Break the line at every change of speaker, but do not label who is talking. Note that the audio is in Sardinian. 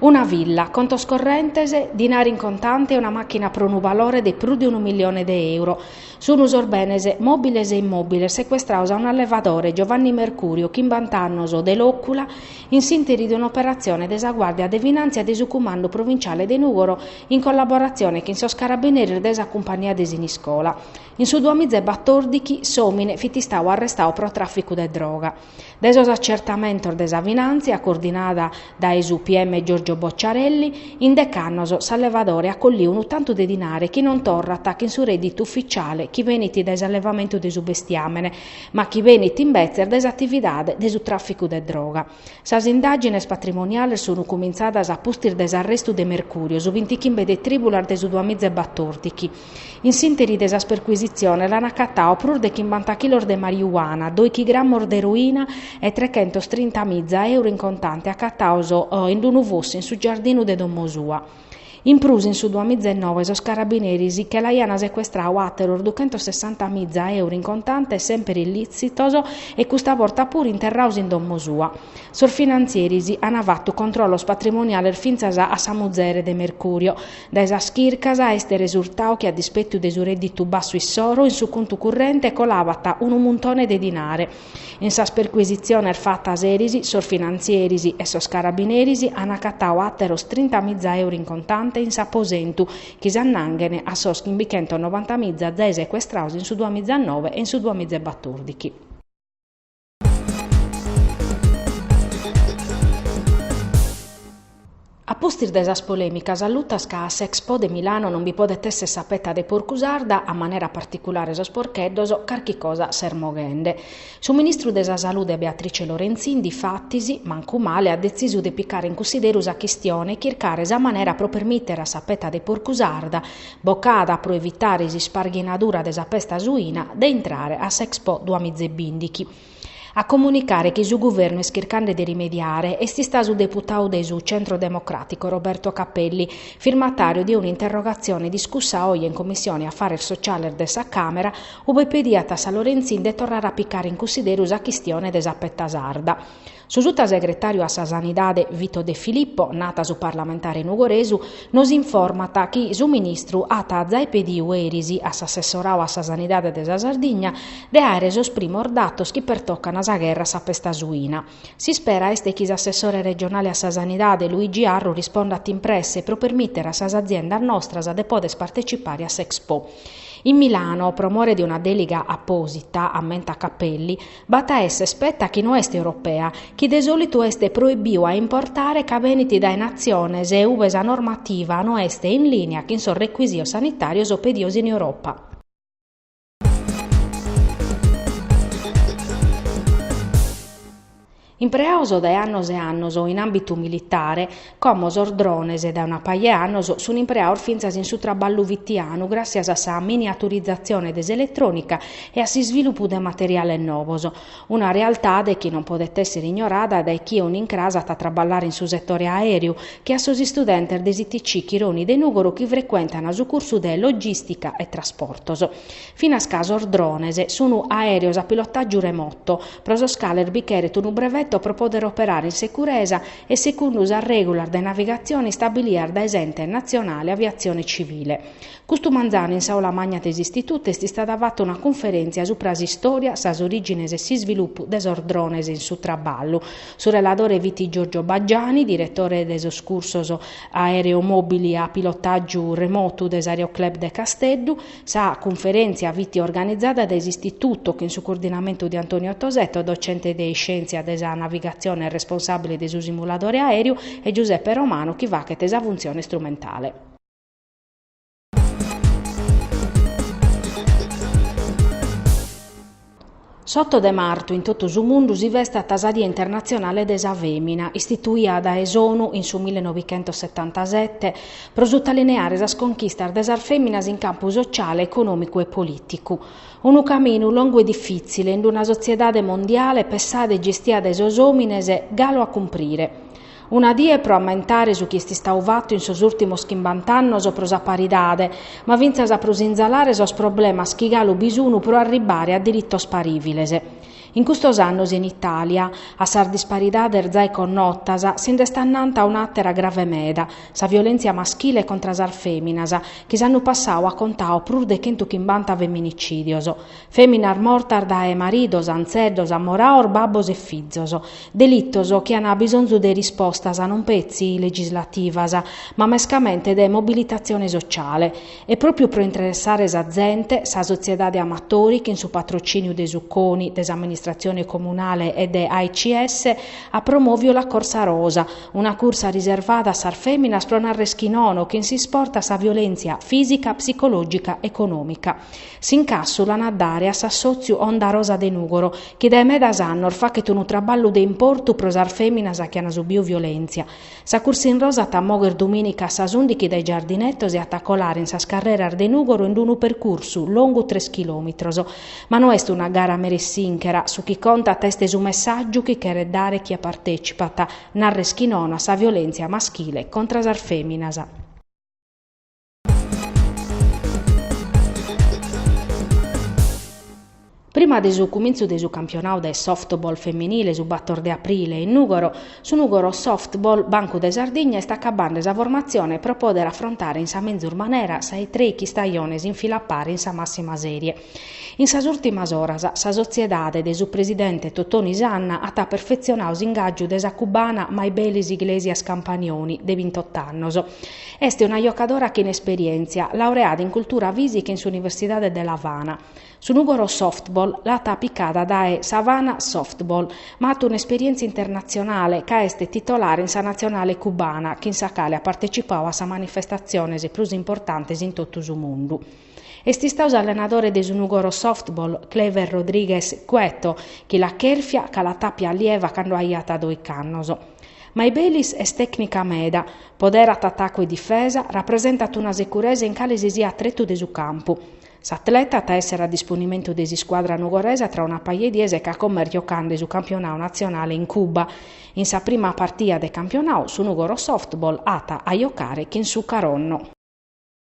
Una villa, contos correntes, dinari in contante e una màchina pro unu balore de prus de unu milione de euro. Sunt sos benes, mòbiles e immòbiles, secuestraos a un'allevadore, Giovanni Mercurio, chimbant'annos, de Lòcula, in s'ìnteri de un'operatzione de sa Guàrdia de Finàntzia de su Cumandu Provinciale de Nùgoro in collaboratzione chin sos carabineris de sa Cumpagnia de Siniscola. In su duamiza e batòrdichi s'òmine fit istau arrestau pro tràficu de droga. Dae sos atzertamentos de sa finàntzia coordinada dae su PM Giorgio Bocciarelli, in dec'annos s'allevadore at colliu unu tantu de dinare chi non torrat chin su rèdditu ufitziale chi benit dae s'allevamentu de su bestiàmene, ma chi benit imbetzes dae s'atividade de su tràficu de droga. Sas indàgines patrimoniales sunt cumintzadas a pustis de s'arrestu de Mercurio, su bintichimbe de trìbulas de su duamizebatòrdichi. In s'interi de sas percuisitziones l'an acatau prus de chimbanta chilos de mariuana, dòichi grammos de eroina e trechentos trinta miza euro in contante acataos in d-unu fossu in su giardinu de domo sua. In prus in su duamizenove sos carabineris che l'aiana secuestrau àteros duchentos sessanta miza euro in contante semper illìtzitos e custa borta puru interraos in domo sua. Sos finantzieris ana fatu controllos patrimoniales fintzas a sa muzere de Mercurio, Dae sas chircas est resurtau chi a dispetu de su rèdditu bassu issoro, in su contu currente colabat unu muntone de dinare. In sas percuisitziones fatas eris, sos finantzieris e sos carabineris ant acatau àteros trintamiza euru in contante in s'aposentu, chi s'annanghen a sos chimbichentonovantamiza zai secuestraos in su duamizanove e in su duamizebatòrdichi. A pustis de sas polèmicas allutas ca a s'Expo de Milano non bi podet èssere sa peta de porcu sarda, a manera particulare sos porcheddos, carchi cosa s'est moghende. Su ministru de sa Salude Beatrice Lorenzin, difatis, mancu male, at detzisu de picare in cussideru sa chistione e chircare sa manera pro permìtere a sa peta de porcu sarda, Bocada pro evitare s'isparghinadura de sa pesta suina, de intrare a s'Expo duamizebìndichi. A comunicare chi su Guvernu est chircande de rimediare est istau su deputadu de su Centro Democràtico Roberto Cappelli, firmatàriu de un'interrogatzione discussa oje in Commissione Afares Sociales de sa Càmera, ue pediat a sa Lorenzin de torrare a picare in cussideru sa chistione de sa petta sarda. Su sutasegretàriu a sa Sanidade Vito De Filippo, nat su parlamentare nugoresu, nos informat chi su ministru at zai pediu eris a s'assessorau a sa Sanidade de sa Sardigna de àere sos primos datos chi pertocan sa gherra a sa pesta suina. S'ispera est chi s'assessore regionale a sa Sanidade Luigi Arru rispondat in presse pro permìtere a sas aziendas nostras de pòdere partecipare a s'Expo. In Milano, pro more de una dèlega apòsita, ammentat Cappelli, B'at a esser peta chi no est europea, chi de sòlitu est proibiu a importare ca benit dae natziones ue sa normativa no est in lìnia chin sos recuisios sanitàrios pedidos in Europa. Impreados dae annos e annos in àmbitu militare, como sos drones dae una paja 'e annos sunt impreados fintzas in su traballu fitianu gràssias a sa miniaturizatzione de s'eletrònica e a s'isvilupu de materiales novos. Una realtade chi non podet èssere ignorada dae chie unu incras at a traballare in su setore aèreu che a sos istudentes de s'ITC Chironi de Nùgoro chi frecuentan su cursu de Logìstica e Trasportos. Finas ca sos drones sunu aèreos a pilotàgiu remoto, pro sos cales bi cheret unu breveto pro pòdere operare in securesa e segundu sas règulas de navigatzione istabilias dae s'Ente natzionale aviatzione tzivile. Custu manzanu in s'aula magna de s'Istitutu est istada fata una cunferèntzia subra s'istòria, sas orìgines e s'isvilupu de sos drones in su traballu. Su reladore fit Giorgio Baggiani, diretore de sos cursos Aereomobili a pilotàgiu remotu de s'Aereo Club de Casteddu, Sa cunferèntzia fit organizada dae s'Istituto chin su coordinamentu de Antonio Tosetto, docente de iscèntzia de sa navigatzione e responsàbile de su simuladore aèreu, e Giuseppe Romano chi faghet sa funtzione istrumentale. S'oto de martu in totu su mundu si festat sa Die internatzionale de sa fèmina, istituida dae s'ONU in su millenovichentosetantasete, pro sutalineare sas conchistas de sas fèminas in campu sociale, econòmicu e polìticu. Unu caminu longu e difìtzile, in una sotziedade mondiale pessada e gestia dae sos òmines, galu a cumprire. Una die pro ammentare su chi est istadu fatu in sos ùrtimos chimbant'annos pro sa paridade, ma fintzas pro sinzalare sos problemas chi galu bi sunu pro arribbare a diritos parìviles. In custos annos in Itàlia, a sas disparidades zai connotas, si nd'est annanta un'àtera grave meda, sa violèntzia maschile contra sas fèminas, chi s'annu passadu at contadu prus de chentu chimbanta feminicìdios. Feminas mortas dae maridos, antzeddos, amoraos, babbos e fizos. Delitos chi an bisonzu de rispostas non petzi legislativas, ma mescamente de mobilitazione sociale. E propiu pro interessare sa zente, sa sotziedade Amatori, chin su patrociniu de su Coni, de s'amministrazione comunale e de AICS, at promoviu la Corsa Rosa, una cursa riservada a sas feminas pro narrer chi nono chin s'isport a sa violentzia fisica, psicologica, economica. S'incassu l'an a dare a s'assòtziu Onda Rosa de Nùgoro, chi dae medas annos faghet unu traballu de importu pro sas fèminas chi an subidu violèntzia. Sa cursa in rosa at a mogher dumìnica a sas ùndighi dae Giardinetos e at a colare in sas carreras de Nùgoro in unu percursu longu tres chilòmitros. Ma no est una gara mera e sinchera, su chi contat est su messàgiu chi cheret dare chie partètzipat, narrer chi nono a sa violèntzia maschile contra sas fèminas. Prima de su cumintzu de su campionau de softball feminile su bator de aprile in Nùgoro, su Nùgoro Softball Bancu de Sardigna est acabande sa formatzione pro pòdere afrontare in sa menzus manera sa 'e trèichi istajones in fila a pare in sa màssima sèrie. In sas ùrtimas oras sa sotziedade de su presidente Totoni Sanna at perfetzionadu s'ingàgiu de sa cubana Maybelis Iglesias Campanioni, de bintot'annos. Est una jocadora chin esperièntzia, laureada in cultura fìsica in s'Universidade de L'Avana. Su Nùgoro Softball l'at picada dae s'Havana Softball, ma at un'esperièntzia internatzionale ca est titolare in sa natzionale cubana, chin sa cale at partecipadu a sas manifestatziones prus importantes in totu su mundu. Est istadu s'allenadore de su Nugoro Softball, Clever Rodríguez Cueto, chi l'at chèrfia ca l'at àpia allieva cando aiat doich'annos. Maybelis est tècnica meda, poderat atacu e difesa, rapresentat una securesa in cale si siat tretu de su campu. S'atleta at a èssere a disponimentu de s'iscuadra nugoresa tra una paja 'e dies ca como est jocande su campionau natzionale in Cuba. In sa prima partida de campionau su Nugoro Softball at a jocare chin su Caronno.